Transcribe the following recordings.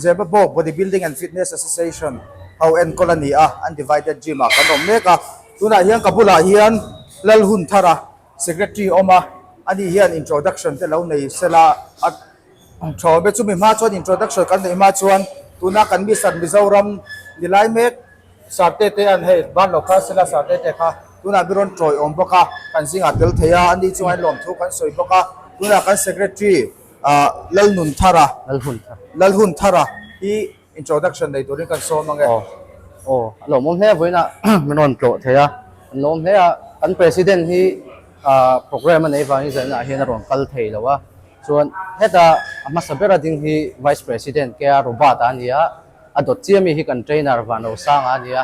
Zirba bawk Bodybuilding and Fitness Association ho enkawl a ni a, an divided gym ah kan awm mek a, tunah hian ka bulah hian Lalhunthara Secretary a awm a, ani hian introduction te lo nei se la a thawm e, chumi hma chuan introduction kan neih hma chuan tuna kan Mister Mizoram ni lai mek Sir Tete an hei ban lo kha sela Sir Tete kha tunah mi rawn tawi awm bawk a, kan zingah tel thei a, ani chungah hian lawmthu kan sawi bawk a, tunah kan Secretary. Lalhunthara, Lalhunthara, hi introduction nei turin kan sawm ange. Aw, aw, a lawm awm hle a vawiin a min rawn tlawh thei a, an lawm hle a, kan President hi programme a nei vangin zawihnaah hian a rawn kal thei lo a, chuan heta a hmasa bera ding hi Vice President K.R. Robert-a a ni a, a dawt chiah mi hi kan Trainer Vanosanga a ni a,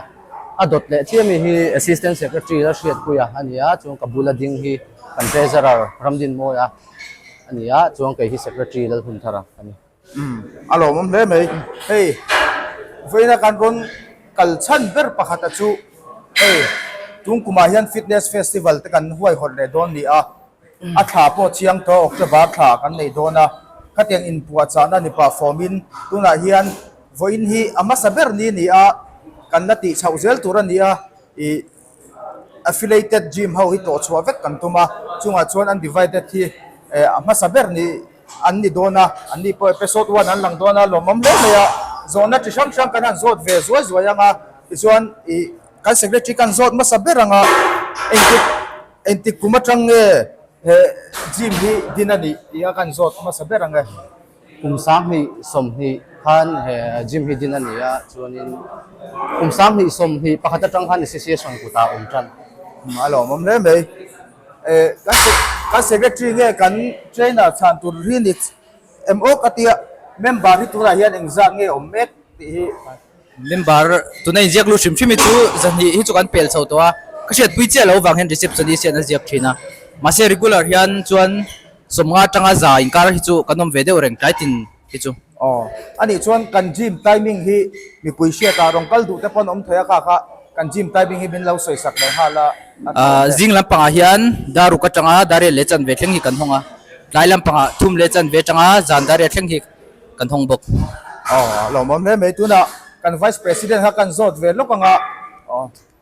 a dawt leh chiah mi hi Assistant Secretary Lalhriatpuia a ni a, chuan ka bula ding hi kan Treasurer Ramdinmawia. a ni a, chuan kei hi secretary Lalhunthar a ni. Umm, a lawmawm hle mai. Hei, vawiina kan rawn kal chhan ber pakhata chu hei Tungkumah hian fitness festival te kan huaihawlh leh dawn ni a, a thla pawh chiang tawh October thla kan nei dawn a, khatiang inpuahchahna ni pah fawmin tunah hian vawiin hi a hmasa ber ni ni a, kan la tih chhoh zel tur a ni a, ih. Affiliated gym ho hi tawh chhuah vek kan tum a, chungah chuan undivided hi a hmasa ber ni an ni dawn a, an ni pawh episode one an lang dawn a, lawmawm hle mai a, zawhna chi hrang hrang kan han zawt ve zuai zuai ang a, tichuan ih kan secretary kan zawt hmasa ber ang a, engtik engtik kum aṭang nge he gym hi din a nih tih a kan zawt hmasa ber ang e. Kum sanghnih sawmhnih khan he gym hi din a ni a, chuanin kum sanghnih sawmhnih pakhat atang khan i si si a sawn kut ah awm tan. A lawm awm hle mai e, kan secretary nge kan trainer chhan tur hi ni em awk a tia, member hi tunah hian engzah nge awm mek tih hi. Member tuna inziak lut hrim hrim hi chu zahnih hi chu kan pel chho tawh a, ka hriatpui chiah loh vang hian receptionist hi an la ziak thin a, mahse regular hian chuan sawmnga tanga za inkar hi chu kan awm ve deuh reng tlaitin hi chu. Aw, anih chuan kan gym timing hi mipui hriatah rawn kal duh te pawh an awm thei a, kha kha kan gym timing hi min lo sawi sak leh nghal a. Ahh, zing lampangah hian daruk atanga dariat leh chanve thleng hi kan hawng a, tlai lampangah thum leh chanve atanga zan dariat thleng hi. kan hawng bawk. Aww a lawm awm hle mai tunah kan vice president kha kan zawt ve lawk ang a,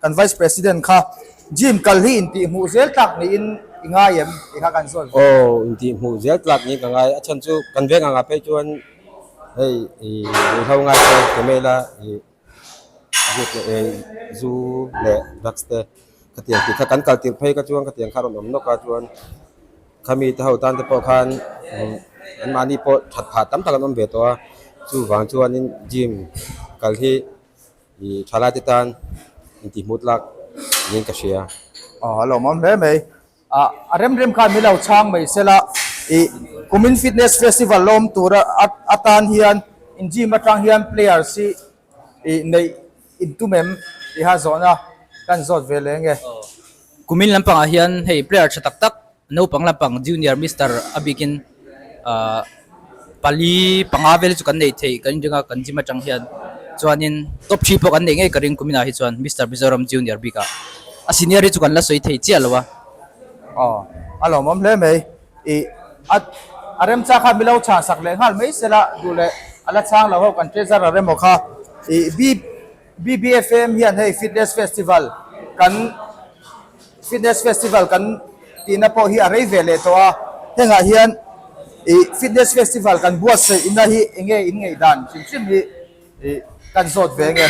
kan vice president kha gym kal hi intih hmuh zel tlak niin i ngai em tih kha kan zawt ve. Aww intih hmuh zel tlak niin ka ngai, a chhan chu kan veng angah phei chuan hei i inhlo ngai te ka mail a. zu leh drugs te ka tiang tih kha kan kal tirh phei kha chuan ka tiang kha a rawn awm nawk a chuan khami te ho tan te pawh khan an mahni pawh that phat tam tak an awm ve tawh a chuvang chuanin gym kal hi i tha laite tan intihmuh lak niin ka hria. A rem rem khan min lo chhang mai se la, i Kumin Fitness Festival lawm tur atan hian in gym atang hian players hi i neih in tum em tih ha zawhna kan zawt ve leh nge. Kumin lampangah hian hei player tha tak tak naupang lampang junior Mister a bikin. Ahh pali panga vel chu kan neih theih kan inringa kan gym atang hian chuanin top three pawh kan neih ngei ka ring kum inah hi chuan Mister Mizoram Junior bik ah a senior hi chu kan la sawi thei chiah lo a. Aww a lawmawm hle mai i a a remchang kha milo chhan sak leh nghal mai sela duh leh a la chang lo ho kan treasure a rem aw kha i bip. BBFAM hian hei fitness festival kan fitness festival kan tihna pawh hi a rei ve leh tawh a, hengah hian ih fitness festival kan buatsaihna hi eng nge in ngaihdan chim chim hi ih kan zawt ve nge?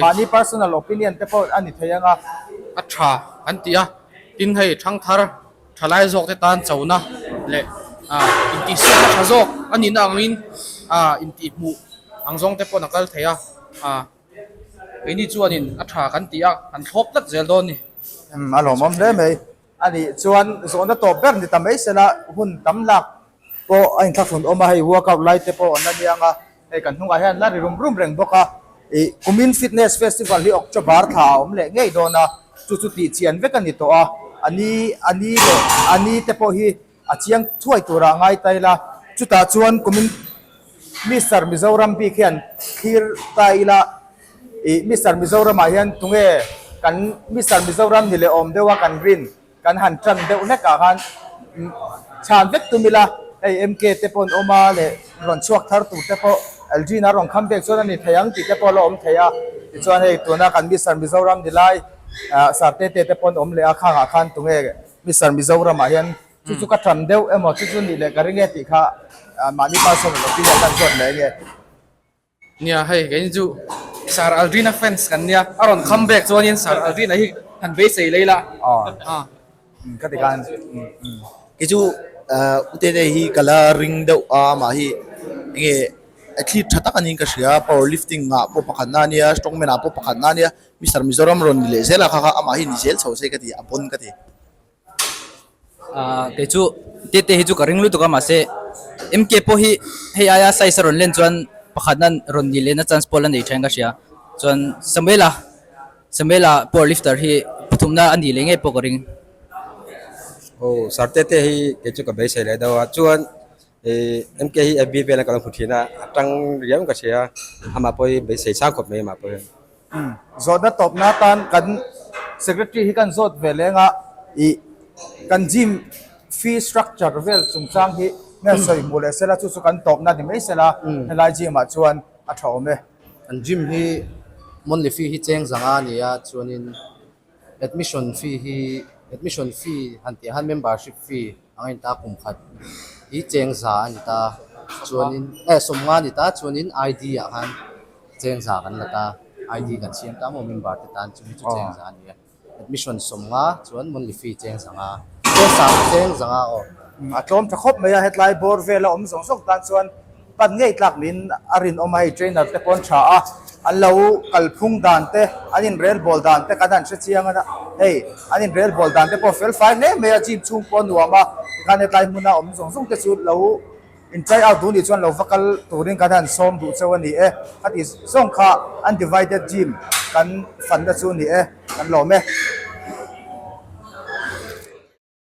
Mahni personal opinion te pawh a ni thei ang a. A tha an ti a, tin hei thangthar. Thalai zawkte tan chona leh intihsiakna tha zawk a nihna angin intihhmuh ang zawngte pawh a kal thei a. Keini chuanin a tha kan ti a, han thlawp tlat zel dawn ni? A lawmawm hle mai. Anih chuan zawhna tawp ber ni ta mai sela hun tam lak pawh a inthlafunn awm a, hei workout lai te pawh an la niang a, hei kan hnungah hian la ri rum rum reng bawk a, ih kumin fitness festival hi October tha ah a awm leh ngei dawn a, chu chu tih chian vek a ni tawh a, ani ani leh ani te pawh hi a chiang thuai tur ah a ngai ta ila, chutah chuan kumin Mister Mizoram bik hian thlir ta ila, ih Mister Mizoram ah hian tunge kan Mister Mizoram ni leh awm deuha kan rin Kan han tan deuh hlek ah khan chhan vek tum ila hei MK te pawn awm a leh rawn chhuak thar tur te pawh LG in a rawn kham vek chuan a ni thei ang tih te pawh la awm thei a tichuan hei tuna kan Mister Mizoram ni lai Sir Tete te pawn awm leh a khang ah khan tunge Mister Mizoram ah hian chu chu ka tan deuh emaw chu chu nih leh ka ring e tih kha mahni pa sawn emaw pi leh a kan zawt leh enge. Nia hei keini chu Sir Aldrin-a fans kan nia, a rawn come back chuanin Sir Aldrin-a hi han beisei lei la. Aw. Ka ti khan kei chu U Tete hi ka la ring deuh a, mah hi enge a thlip tha tak anih ka hria, power lifting-ah pawh pakhat na nia, strongman-ah pawh pakhat na nia, Mister Mizoram rawn ni leh zel a kha kha amah hi ni zel chho se ka ti, a bon ka ti. Ahh keichu tete hi chu ka ring lutuk a mahse MK pawh hi hei aia size a rawn len chuan pakhatna rawn nih lehna chance pawh la nei tha in ka hria chuan Samuela Samuela power lifter hi pathumna a nih leh ngei pawh ka ring. Aw sir tete hi keichu ka beisei leh dau a chuan. MK hi FB vel a ka lo hmu thin a, a tang riau ka hria, amah pawh hi bei sei sang khawp mai amah pawh hian. Zawtna tawp na tan kan Secretary hi kan zawt ve leng a, ih kan gym fee structure vel chung chang hi nge sawi hmuh leh sela chu chu kan tawp na ni mai se la, helai gym ah chuan a tha awm e. Kan gym hi monthly fee hi cheng zang a ni a, chuan in Admission fee hi admission fee han tih han membership fee anga in ta kum khat hi cheng za a ni ta chuanin eh sawm nga a ni ta chuanin ID ah khan cheng za kan la ta ID kan siam ta maw member te tan chumi chu cheng za a ni a admission sawm nga chuan monthly fee cheng za nga cheng za nga aw a tlawm tha khawp mai a hetlai bawr vel a awm zawng zawng tan chuan. Kan ngaihtlak min a rinawm a, hei trainer te paw'n tha a, an lo kalphung dan te, an inrel ball dan te kan han hre chiang a, hei an inrel ball dan te pawh felfai hle mai a, gym chhung pawh a nuam a, tikhan hetlai hmuna awm zawng zawng te chu lo in try out duh ni chuan lo va kal turin kan han sawm duh chauh a ni e, khatih zawng kha undivided gym kan fanna chu a ni e, kan lawm e.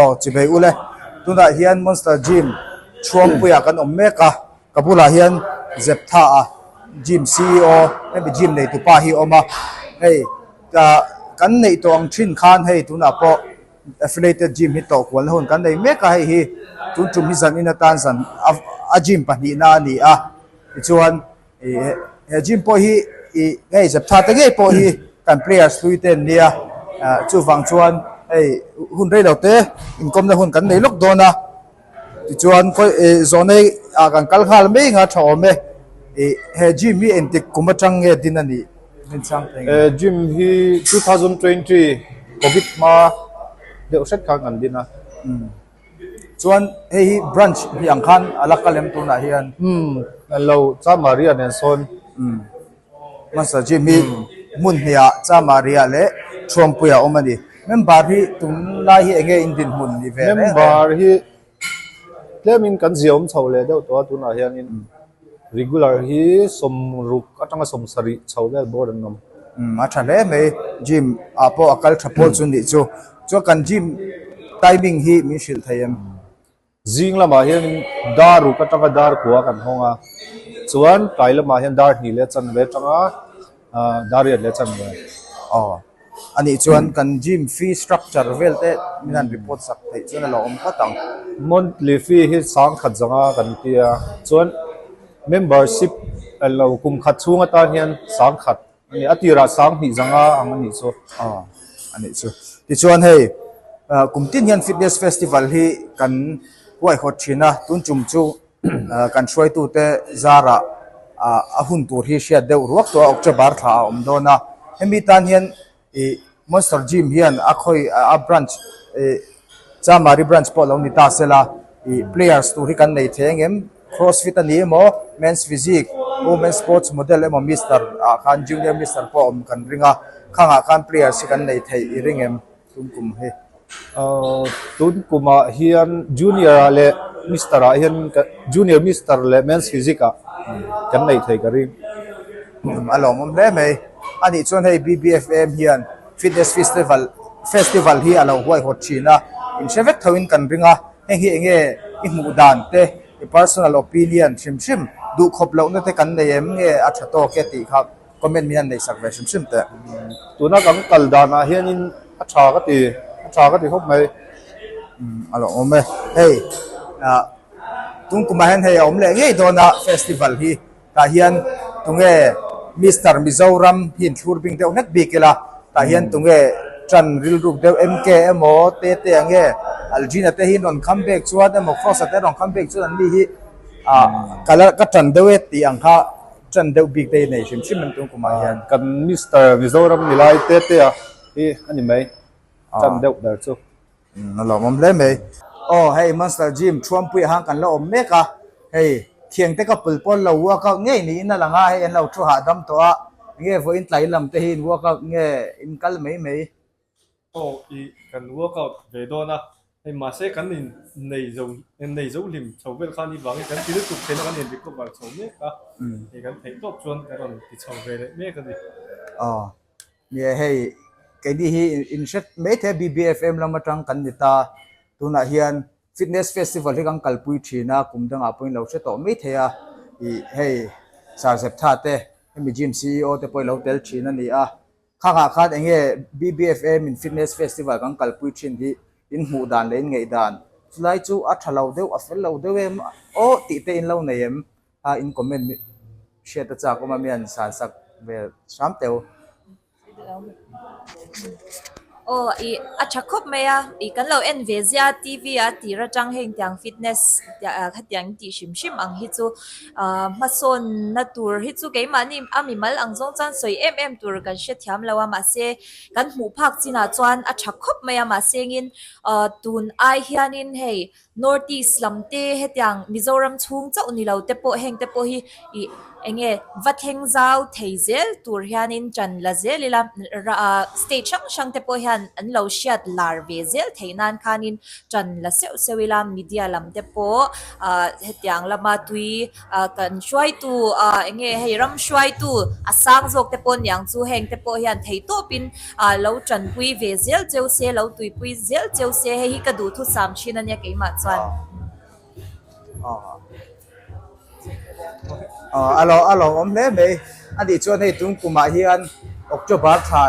aw chi mai ula tunah hian monster gym chhuangpuiah kan awm mek a ka bulah hian zeptha a gym c e o hemi gym neitu pa hi a awm a hei kan neih tawh ang thin khan hei tunah pawh-- Affiliated gym hi tawh kual na hun kan nei mek a, hei hi tun tum hi zan in atan zan a gym pahnih na a ni a, tichuan he gym pawh hi hei zep tha te ngei pawh hi kan players hlui te an nia, chuvang chuan hei hun rei lo te inkawm na hun kan nei lawk dawn a. Tichuan khawi e zawnei ah kan kal nghal mai anga tha awm e. Ih he gym hi engtik kum atang nge din a nih? E gym hi two thousand twenty covid hma deuh hret khan kan din a. Chuan hei hi branch hnih ang khan a la ka lem tunah hian. Hello, Chamaria nen sawn. Hmasa gym hi hmun hniah chamaria leh thuampuia awm a ni. Member hi tunlai hi eng nge indinhmun ni ve hle? Member hi tlemin kan ziawm chho leh deuh tawh a, tunah hianin regular hi sawm ruk atanga sawm sarih chho vel bawr an awm. A tha hle mai gym ah pawh a kal tha pawl chu nih chu. Chuan kan gym timing hi min hrilh thei em? Zing lamah hianin dar uk atanga dar kua kan hawng a, chuan kai lamah hian dar hnih leh chanve atanga dar riat leh chanve. Aw. A nih chuan kan gym fee structure vel te min han report sak theih chuan a lo awm nghat ang. Monthly fee hi sang khat zanga kan tia, chuan membership kum khat chhung atan hian sang khat. Ani a tirah sang hnih zanga ang anih chu. Aw anih chu. Tichuan hei kum tin hian fitness festival hi kan huaihawt thin a, tun tum chu kan hruaitute zarah a hun tur hi hriat deuh ruak tawh a, October thlahah a awm dawn a. Hemi tan hian ih. Monster Gym hian a khawi a branch ih Chamari branch pawh lo ni ta se la ih players tur hi kan nei thei ang em? Cross fit a ni emaw, men's physique, women's sports model emaw Mister ah khan junior Mister pawh awm kan ring a, khangah khan players hi kan nei thei i ring em? Tumkum hi. Tun kumah hian junior-a leh mister-a hian ka junior mister leh men's physics-a kan neih thei ka ring. A lawmawm hle mai. A nih chuan hei BBFM hian fitness festival festival hi a lo huaihawt thin a, in hre vek thoin kan ring a, heng hi eng nge i hmuh dan te, i personal opinion hrim hrim duh khawp lohna te kan nei em nge a tha tawk e tih kha Comment hi an nei sak ve hrim hrim teh. Tuna kan kal danah hianin a tha ka ti, a tha ka ti khawp mai. A lo awm e. Hei, tungkuma hian hei a awm leh ngei dawn a festival hi. Tah hian tunge Mister Mizoram hi an thlur bik deuh hlet bik ila, tah hian tunge tan rilruk deuh MK emaw, TT ang nge, Aldrina te hi an rawn kham bik chuan emaw Frost-a te an rawn kham bik chuan an ni hi ka tan deuh e tih ang kha Chan deuh bik te i nei hrim hrim an tum kumah hian. Kan Mister Mizoram milai te te a hi a ni mai chan deuh ber chu. A lawmawm hle mai. Aw hei Monster Gym thuampuia han kan la awm mek a, hei thiang te ka pul pawn lo work out ngei niin a lang a, hei an lo thu hahdam tawh a, nge vawiin tlai lam te hi in work out nge in kal mai mai. Aw i kan work out ve dawn a, hei mahse kan in nei zo en nei zo hlim chho vel khan hi vangin kan ti lutuk theihna kan in recover chho mek a, hei kan theih tawp chuan kan rawn ti chho ve leh mek a ni. Aw nia hei keini hi in hret maithei a BBFM lam atang kan ni ta, tunah hian fitness festival hi kan kalpui thin a, kum dangah pawhin lo hre tawh maithei a, ih hei Sir Zeptha te hemi gym CEO te pawh i lo tel thin a ni a. Kha nghah khan eng nge BBFA min fitness festival kan kalpui thin hi in hmuh dan leh in ngeih dan chulai chu a tha lo deuh a fel lo deuh em aw tih te in lo nei em ha in comment mi hriat ta chak awm a mian san sak ve hram teu. Aw i a tha khawp mai a i kan lo en ve zia TV a tir atang heng tiang fitness tia khatiang in tih hrim hrim ang hi chu. Hmasawnna tur hi chu keimahni a mimal ang zawng chuan sawi em em tur kan hrethiam lo a, mahse kan hmuh phak chinah chuan a tha khawp mai a. Mahsengin tun ai hianin hei North East lam te hetiang Mizoram chhung chauh ni lote pawh hengte pawh hi ih eng nge va thleng zau thei zel tur hianin ṭan la zel ila state hrang hrangte pawh hian an lo hriat lar ve zel theih nan khanin tan la seuh seuh ila media lam te pawh ah hetiang lama tui ah kan hruai tu ah eng nge hei ram hruai tu a sang zawk te pawh niang chu heng te pawh hian thei tawp in ah lo tanpui ve zel cheu se lo tuipui zel cheu se hei hi ka duhthusam thin ania keimah chuan ah a lo a lo awm hle mai ani chuan hei tungkuma hian october tha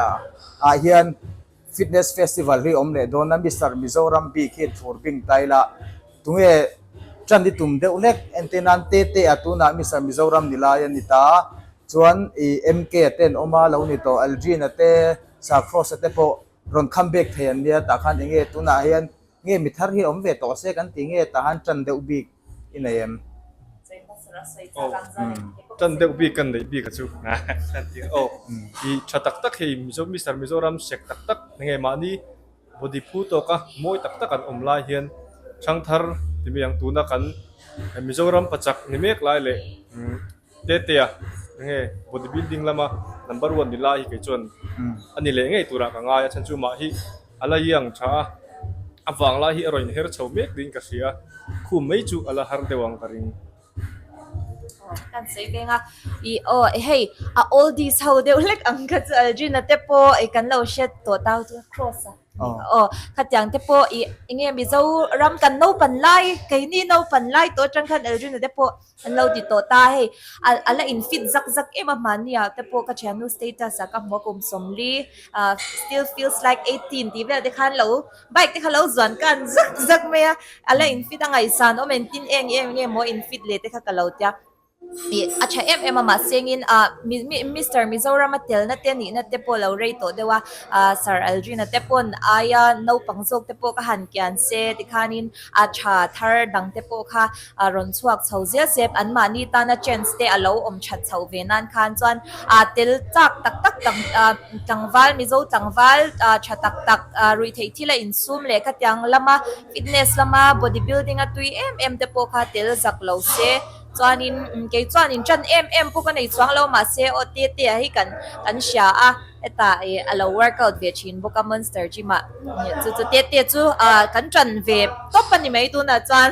ah hian Fitness Festival hi awm leh dawn a Mister Mizoram bik hi thur bing tai la, tunge ṭan i tum deuh hlek? Ente nan te te a tunah Mister Mizoram ni lai a ni ta, chuan i MK a ten awm a lo ni tawh Aldrin a te Sir Frost a te pawh rawn come back thei an nia tah khan enge tunah hian Nge mi thar hi awm ve tawh se kan ti nge tahan tan deuh bik i nei em? Aww tan deuh bik kan neih bik a chu kan ti a aww i tha tak tak hei mizo Mister Mizoram sek tak tak nge mahni body phu tawk a mawi tak tak an awm lai hian thang thar ti mai ang tuna kan Mizoram pachak ni mek lai leh umm. Tletea, Enge body building lama number one ni lai hi kei chuan a ni leh ngei turah ka ngai a, chhan chu mah hi a la iang tha a, a vang lai hi a rawn her chho mek niin ka hria a, khum mai chu a la har deuh ang ka ring. Hei a oldies ho deuh hlek ang kha chu Aldrina te pawh i kan lo hriat tawh tau chu cross a aw khatiang te pawh i enge mizo ram kan naupan lai keini naupan lai tawh atang khan Aldrina te pawh. An lo ti tawh ta hei, a la in fit zak zak em a mahnia te pawh ka thiam nu status ah ka hmu a kum sawm li. Still feels like eighteen tih vel te khan lo bike te kha lo zuan kan zak zak mai a, a la in fit a ngaihsan awm engtin eng em nge maw in fit leh te kha ka lo tia ih a tha em em a mahsengin a Mister Mizoram a tel nate nih na te pawh lo rei tawh deuh a, Sir Aldrin te pawn aia naupang zawk te pawh ka han kian se tikhanin a tha thar dang te pawh kha a rawn chhuak chho zial se. Anmahni tana chance te a lo awm that chho ve nan khan chuan aa tel chak tak tak tlang aa tlangval Mizo tlangval aa tha tak tak aa rui theih thil a insum leh khatiang lama fitness lama body building a tui em em te pawh kha tel zak lo se chuanin kei chuan in tan em em pawh ka nei chuang lo mahse aw te te ah hi kan kan hria a. Heta hi a lo work out ve thin bawk a Monster Gym ah chu chu te te chu kan tan ve tawp a ni mai tunah chuan.